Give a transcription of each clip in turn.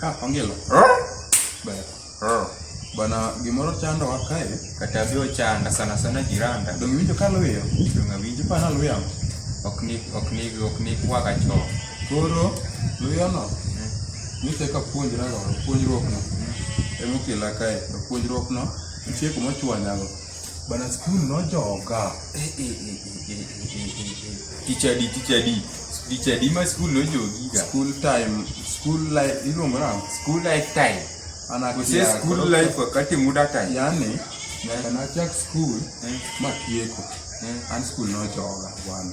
Ah, ongelo. Baya. Bana gimoro chando wa kae. Kata bi ochanda sana sana jiranda. Dong winjo ka luyo. Dong awinjo pa na luyo. Ok ni ok ni ok ni kwa ka cho. Koro luyo no. Ni te ka puonjra go puonjruok no. Emo kila kae puonjruok no. Nitie kuma chwanyago. Bana skul nojoga. Tichadi tichadi. Tichadi ma skul nojogiga. School time, school life iluongo nang'o? School life time. Ana Kose kia- skul koro- life wakati muda time. Yaani nyaka nachak skul Eh. matieko. Eh. An skul nojoga bwana.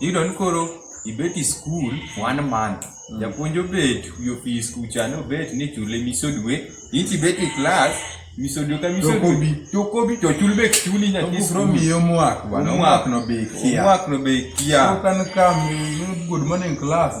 Iyudo ni koro ibet e skul one month, mm. japuonj obet wi ofis kucha ni obet ni chule miso dwe, in to ibet e klas miso dwe ka miso dwe to kobi to chul be chuli nyathi skul. Omiyo omwak bwana, omwak no be ikia. Omwak no be ikia. Koro ka good morning class,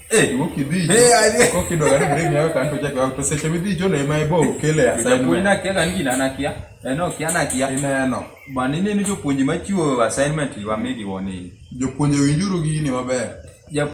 Eh, woki bi. Eh, aje. Koki do gari bring yawe kanto jake wa to seche midhi jo le mai bo kele ya sai. Ko ina kela ngi na nakia. Eno eh, kia nakia. Ina no. Ba ni ni jopuonje machiwo assignment wa migi woni. Jopuonje winjuru gini maber.